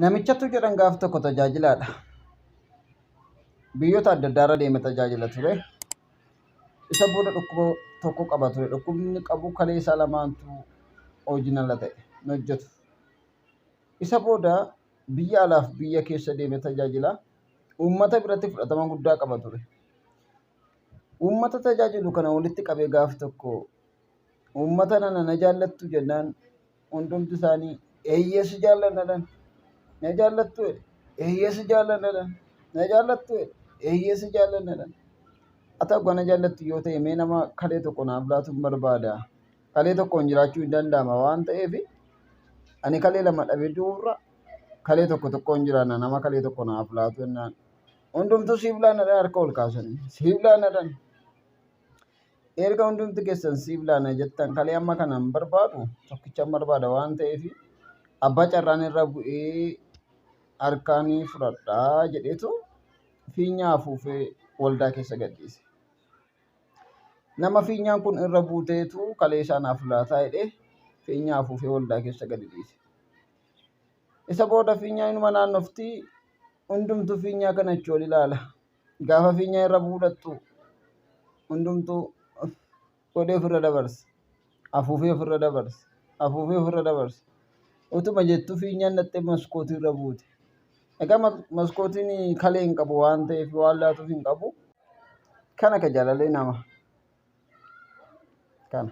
Namichatu jedhan gaaf tokko tajaajilaadha. Biyyoota adda addaa irra deeme tajaajila ture. Isa booda dhukkuba tokko qaba ture. Dhukkubni qabu kalee isaa lamaantu hojiin ala ta'e hin hojjetu. Isa booda biyya alaaf biyya keessa deeme tajaajila. Uummata biratti fudhatama guddaa qaba ture. Uummata tajaajilu kana walitti qabee gaaf tokko Uummata nana na jaallattu jennaan hundumti isaanii eeyyee si jaallanna dhan. Na jaallattu jedhe eeyyee si jaallanna dhan. Na jaallattu jedhe eeyyee si jaallanna dhan. Haa ta'u kana jaallattu yoo ta'e mee nama kalee tokko naaf laatu hin barbaada. Kalee tokkoon jiraachuu hin danda'ama waan ta'eef ani kalee lama dhabee du'uurra kalee tokko tokkoon jiraanna nama kalee tokko naaf laatu jennaan. Hundumtuu siif laanna dhan harka ol kaasanii siif laanna dhan. erga hundumti keessan siif laana jettan kalee amma kana hin barbaadu tokkicha hin barbaada waan ta'eef abbaa carraan irra bu'ee harkaanii fudhadhaa jedheetu fiinyaa afuufee waldaa keessa gadhiise. Nama fiinyaan kun irra buuteetu kalee isaanaaf laataa jedhee fiinyaa afuufee waldaa keessa gadi dhiise. Isa booda fiinyaa inuma naannofti hundumtu fiinyaa kana achi ol ilaala. Gaafa fiinya irra fuudhattu hundumtuu godhee ofirra dabarsa. Afuufee ofirra dabarsa. Afuufee ofirra dabarsa. Utuma jettu fiinyaan dhaxxee maskootii irra buute. Egaa maskootiin kalee hin qabu waan ta'eef waan laatuuf hin qabu. Kana ka jaalalee nama. Kana.